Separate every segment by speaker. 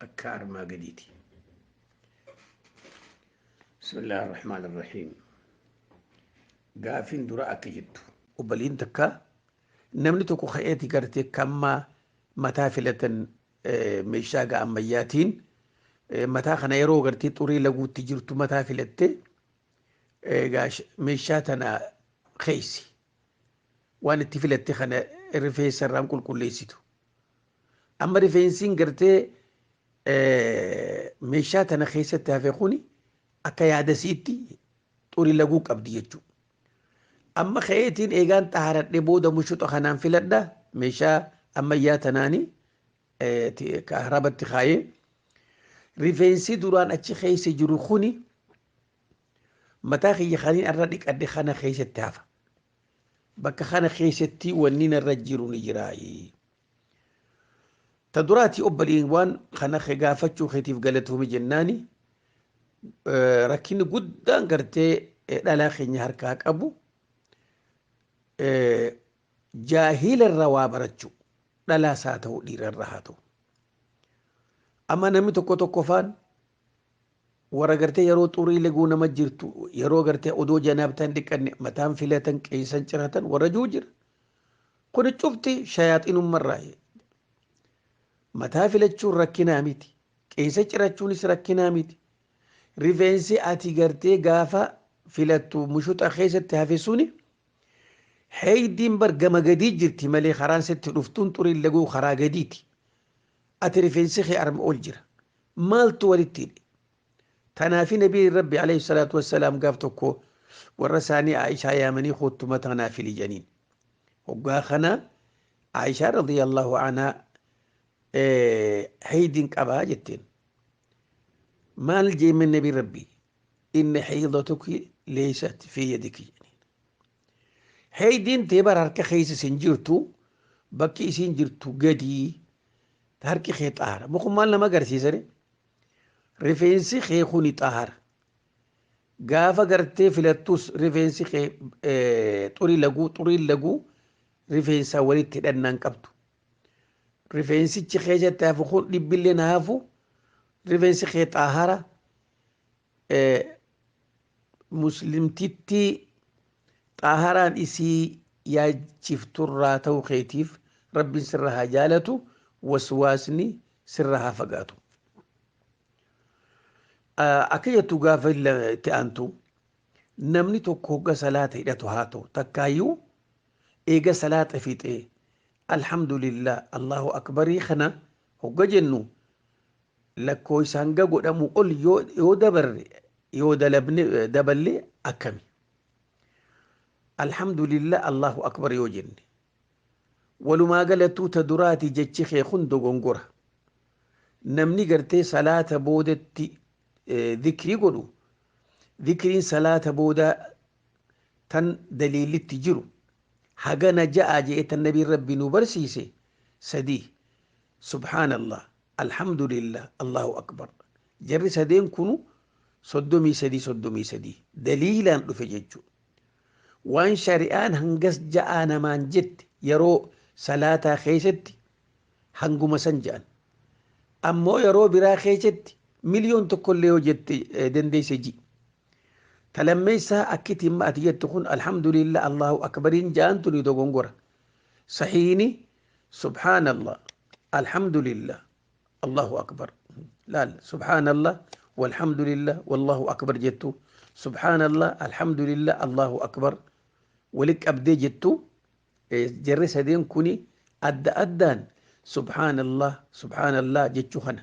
Speaker 1: akka armaa gadiiti. Bismillah ar-Rahmaan ar-Rahiim. Gaafin dura akka jettu. Obbaliin takka namni tokko ka'eeti gartee kammaa mataa filatan meeshaa gaa ammayyaatiin mataa kana yeroo gartee xurii laguutti jirtu mataa filatte meeshaa tana keessa waan itti filatte kana rifeensa irraan qulqulleessitu Amma rifeensiin gartee meeshaa tana keessatti hafe kuni akka yaadasiitti xurii laguu qabdi jechuudha. Amma ka'eetiin eegaan xahaaradhee booda mushuxa kanaan filadha meeshaa ammayyaa tanaanii kaarabatti kaayee rifeensi duraan achi keessa jiru kuni mataa kiyya kaniin irra dhiqadhe kana keessatti hafa. bakka kana keessatti wanni narra jiru ni jiraayi. Ta duraati obboleewwan kana kee gaafachuu keetiif galatoomi jennaani eh, rakkinni guddaan gartee eh, dhalaa keenya harkaa qabu eh, jaahila irraa waa barachuu dhalaas haa ta'u dhiira irraa haa ta'u. Amma namni tokko tokko faan Wara garte yeroo xurii leguu nama jirtu yeroo garte odoo janaabtaa hin dhiqanne mataan filatan qeeysan ciratan warra juu jira. Kuni cufti shayaaxinumma irraayi. Mataa filachuun rakkinaa miti. Qeeysa cirachuunis rakkinaa miti. Rifeensi ati gartee gaafa filattu mushuxa keessatti hafe suni heeydiin bar gama gadii jirti malee karaan sitti dhuftuun xuriin leguu karaa gadiiti. Ati rifeensi kee arma ol jira. Maaltu walitti hidhe? Tanaafi Nabiin Rabbi alayhi salaatu wassalaam gaaf tokko warra isaanii Aishaa yaamanii koottu mataa naa fili jedhaniin. Hoggaa kana Aishaa radiyallahu anhaa haydiin qabaa jetteen. Maal jeemeen Nabiin Rabbi? Inni haydatuki leeysat fi yadiki jedhaniin. Heeydiin tee bara harka keessa sin jirtu bakki isiin jirtu gadii harki kee xaara mukun maal nama agarsiisare rifeensi kee kuni xaara gaafa gartee filattus rifeensi kee xurii laguu xuriin laguu rifeensaa walitti hidhannaan qabdu rifeensichi keessatti hafu kun dhibbilleen hafu rifeensi kee xaahara muslimtittii xaaharaan isii yaachifturraa ta'u keetiif rabbiin sirra haa jaalatu waswaasni sirra haa fagaatu. Akka jettu gaafa itti aantu namni tokko hogga salaata hidhatu haa ta'u takkaayyuu eega salaata fixee alhamdulillah allahu akbarii kana hogga jennu lakkooysa hanga godhamu ol yoo dabarre yoo dalabne daballe akkami alhamdulillah allahu akbar yoo jenne walumaa galattuu ta duraati jechi kee kun dogongora namni gartee salaata boodatti dhikrii godhu dhikriin salaata boodaa tan daliillitti jiru hagana ja'a je'e tan nabiin rabbi nu barsiise sadii subhaanallah alhamdulillah allahu akbar jarri sadeen kunu soddomii sadii soddomii sadii daliilaan dhufe jechu waan shari'aan hangas ja'aa namaan jette yeroo salaataa keessatti hanguma san ja'an ammoo yeroo biraa keessatti miliyoon tokkollee yoo jette dandeesse ji Ta lammeessaa akkiti imma ati jettu kun alhamdulillah Allahu akbariin ja'an tuni dogongora. Sahiini subhaanallah alhamdulillah Allahu akbar. Laal subhaanallah walhamdulillah wallahu akbar jettu. Subhaanallah alhamdulillah Allahu akbar. Wali qabdee jettu jarri sadeen kuni adda addaan subhaanallah subhaanallah jechuu kana.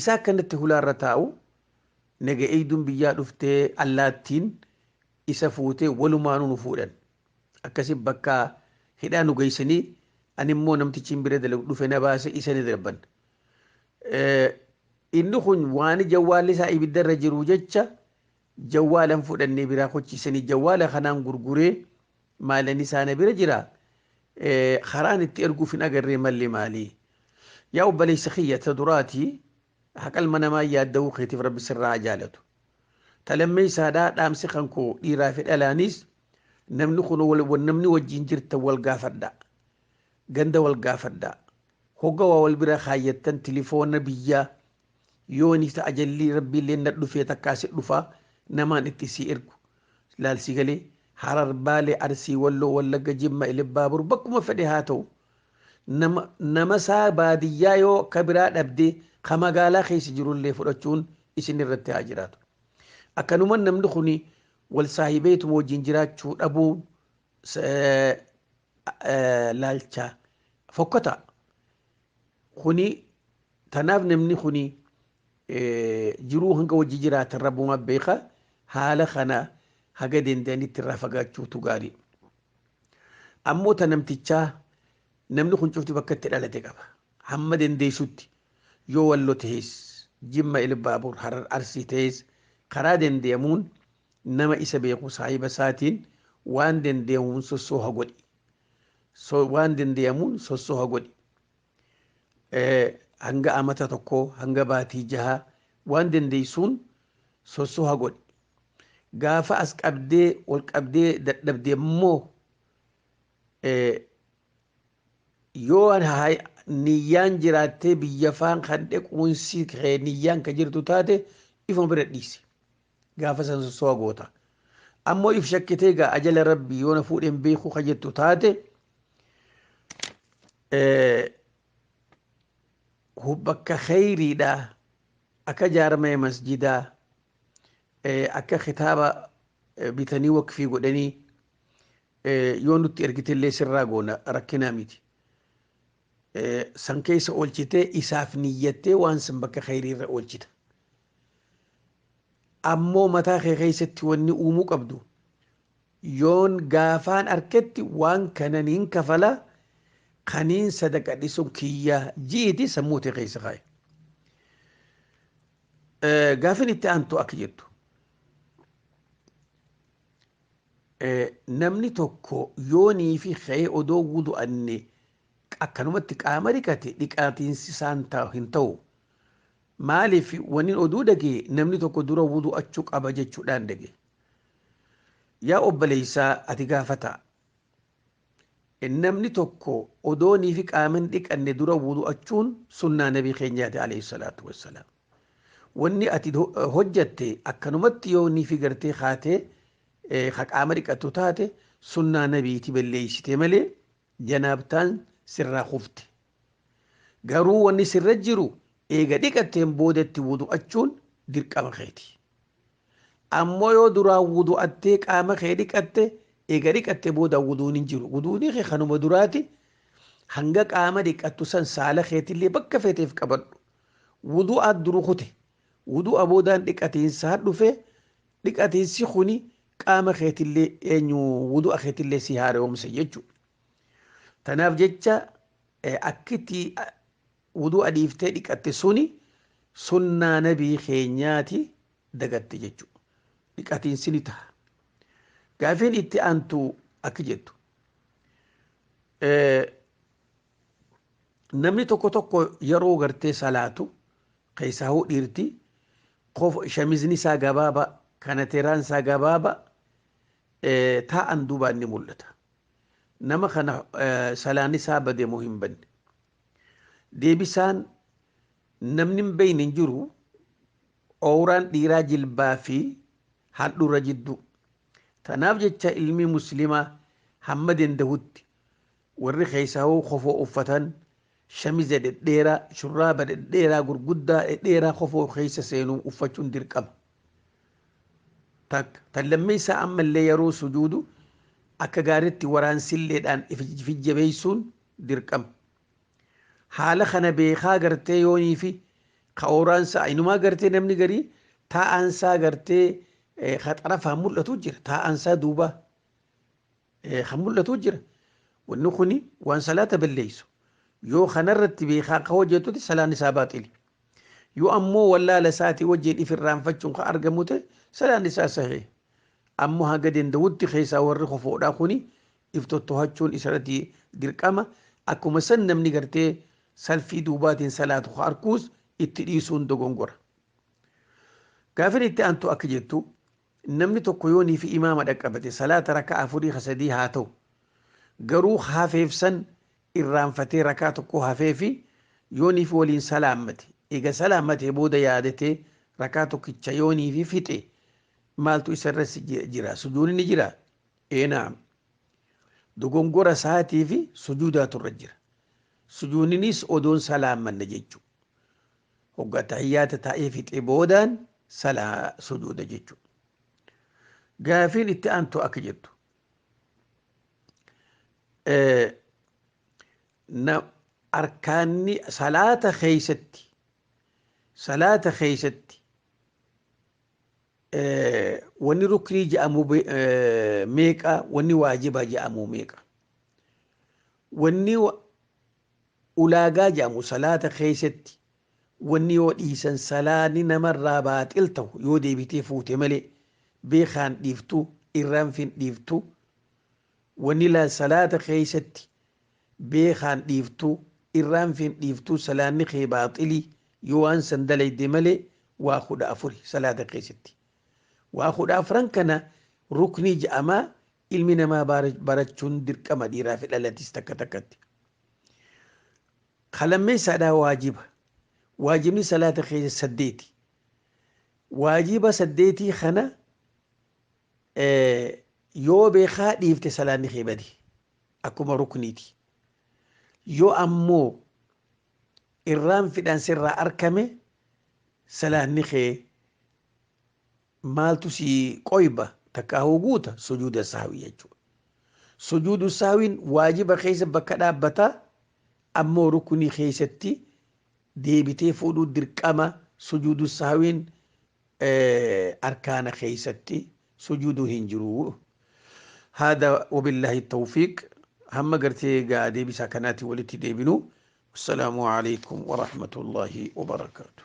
Speaker 1: Isaa akkanatti hulaarra taa'u naga eegduun biyyaa dhuftee allaattiin isa fuutee walumaanuu nu fuudhan. Akkasi bakka hidhaa nu geessanii ani immoo namtichi hin bira dalagu dhufe na baase isa ni darban. Inni kun waan jawwaalli isaa ibiddarra jiru jecha jawwaalan fudhannee biraa kochiisanii jawwaala kanaan gurguree Maalen isaa na bira jira karaan itti erguuf hin agarree malli maali? Yaa obboleessa kiyya ta duraati haqa ilma namaa yaadda'uu keetiif rabbi sirraa haa jaalatu. Ta lammeessaadhaa dhaamsi kan koo dhiiraa fi dhalaanis namni kun namni wajjin jirtan wal gaafadha. Ganda wal gaafadha. Hogga waa wal bira kaayyattan tilifoona biyyaa Yoo ni ta'a jallii rabbiilleen na dhufee takkaa si dhufaa namaan itti sii ergu laal sii galee harar baalee arsii walloo wallagga jimma ilibbaabur bakkuma fedhe haa ta'u nama nama isaa baadiyyaa yoo akka biraa dhabdee ka magaalaa keessa jirullee fudhachuun isin irratti haa jiraatu akkanuman namni kuni wal saahibeetuma wajjin jiraachuu dhabuun laalchaa fokkataa kuni Tanaaf namni kuni jiruu hanga wajji jiraatan rabbuma beeka haala kana haga danda'anitti irraa fagaachuutu gaarii. Ammoo ta namtichaa namni kun cufti bakka itti dhalate qaba. Hamma dandeessutti yoo wallo ta'es jimma ilbaabur harar arsii ta'es karaa dandeemuun nama isa beeku saahiba isaatiin waan dandeemuun sossooha godhi. Waan dandeemuun sossooha godhi. hanga amata tokkoo hanga baatii jahaa waan dandeessuun sossoha godhi. Gaafa as qabdee ol qabdee dadhabde immoo yoo niyyaan jiraattee biyya faan kan dhequunsi kee niyyaan kan jirtu taate ifuma bira dhiisi. gaafa san sossoa goota ammoo if shakkitee gaa ajala rabbii yoo na fuudhe hin beeku ka jettu taate bakka kheyriidha akka jaarmaya masjidaa akka kitaaba bitanii waqfii godhanii yoo nutti ergitellee sirraa goona rakkinaa miti san keessa oolchitee isaaf niyyattee waan san bakka kheyriirra oolchita Ammoo mataa kee keessatti wanni uumuu qabdu, yoon gaafaan arketti waan kana niin kafala, kaniin sadaqa dhisun kiyya ji'iiti sammuu tee keessa kaayi. Gaafin itti aantu akka jettu. Namni tokko yoonii fi ka'ee odoo wudu'anne akkanumatti qaama dhiqate dhiqaatiinsi isaan hin ta'u. Maalif wanin oduu dhagee namni tokko dura wudu'achu qaba jechudhaan dhage yaa obbaleysaa ati gaafataa namni tokko odooniifi qaaman dhiqanne dura wudu'achuun sunnaa nabi keenyaati aleyhi salaatu wassalaam wanni ati hojjatte akkanumatti yoo niifi gartee kaatee ka qaama dhiqattu taate sunnaa nabiiti belleeysite malee janaabtaan sirraa kufte. Garuu wanni sirra jiru eega dhiqatteen boodatti wudu'achuun dirqama keeti. Ammoo yoo duraan wudu'attee qaama kee dhiqatte eega dhiqatte booda wuduun hin jiru. Wuduunii kee kanuma duraati hanga qaama dhiqattu san saala keetillee bakka feeteef qabadhu. Wudu'aat duru kute. Wudu'a boodaan dhiqatiinsaan dhufe Dhiqatiinsi kuni qaama keetillee eenyu wudu'a keetillee si haara'oomsa jechuudha. Tanaaf jecha akkitti wudu'a dhiiftee dhiqatte suni sunnaa nabii keenyaati dagatte jechuudha. Dhiqatiinsi ni taha. Gaafiin itti aantu akki jettu. namni tokko tokko yeroo gartee salaatu keessaa hoo dhiirti shamizni isaa gabaaba kanateeraan isaa gabaaba taa'an duubaan ni mul'ata. Nama kana salaan isaa bade moo hin banne. Deebisaan namni hin beekne hin jiru ooraan dhiiraa jilbaa fi handhuura jidduu. Tanaaf jecha ilmi muslimaa hamma dandahutti Warri keessahuu kofoo uffatan shamiza dhedheeraa, shurraaba dhedheeraa gurguddaa dhedheeraa kofoo keessa seenu uffachuun dirqama. Takka. Tan lammeessaa ammallee yeroo sujuudu akka gaaritti waraansilleedhaan if jajjabeessuun dirqama. Haala kana beekaa gartee yooniifi ka ooraansaa inumaa gartee namni garii taa'aansaa gartee ka xarafaan mul'atu jira taa'aansaa duubaa. kan mul'atu jira wanni kuni waan salaata balleeysu yoo kanarratti beekaan ka hojjetuti salaan isaa baaxili yoo ammoo wallaala isaati wajjin if irraanfachuun ka argamu ta'e salaan isaa sahee ammoo haga danda'utti keessaa warri kofoodhaa kuni if tottohachuun isarratti dirqama akkuma san namni gartee salfii duubaatiin salaatu ka arkuus itti dhiisuun dogongora gaafin itti aantu akka jettu Namni tokko yoo niifi imaama dhaqqabate salaata raka'aa afurii ka sadii haa ta'u garuu ka hafeef san irraanfatee rakaa tokkoo hafeefi yoo niifi waliin salaammate eega salaammatee booda yaadatee rakaa tokkicha yoo niifi fixe maaltu isa irra jira sujuuni ni jira ee naam dogongora isaatiifi sujuudaatu irra jira sujuuninis odoon salaammanne jechuu Hogga attahiyyaata taa'ee fixee boodaan salaa sujuuda jechu. Gaafiin itti aantu akka jettu. Arkaanni salaata keessatti salaata keessatti wanni ruknii jedhamu meeqa wanni waajibaa jedhamu meeqa wanni Ulaagaa jedhamu salaata keessatti wanni yoo dhiisan salaanni namarraa baaxil tahu yoo deebitee fuute malee beekaan dhiiftu irraanfin dhiiftu wanni laa salaata keessatti beekaan dhiiftu irraanfin dhiiftu salaanni kee baaxilii yoo waan san dalayde malee waa kudha afuri salaata keessatti waa kudha afran kana ruknii ja'amaa Ilmi namaa barachuun dirqama dhiiraa fi dhalatis takka takkatti. Ka lammeessaadhaa waajiba. Waajibni salaata keessa saddeeti. Waajiba saddeetii kana yoo beekaa dhiifte salaanni kee bade akkuma rukniiti. Yoo ammoo irraan fidhaan sirraa arkame salaanni kee maaltu sii qoyba takkaahuu guuta sujuuda sahwi jechuudha. Sujuudu sahwiin waajiba keessa bakka dhaabbata ammoo rukunii keessatti deebitee fuudhuu dirqama sujuudu sahwiin arkaana keessatti sujuuduu hin jiru. Haada wabillaahi tawfiiq hamma gartee gaa deebisaa kanaati walitti deebinu. Assalaamu alaikum wa rahmatullaahi wa barakaatuh.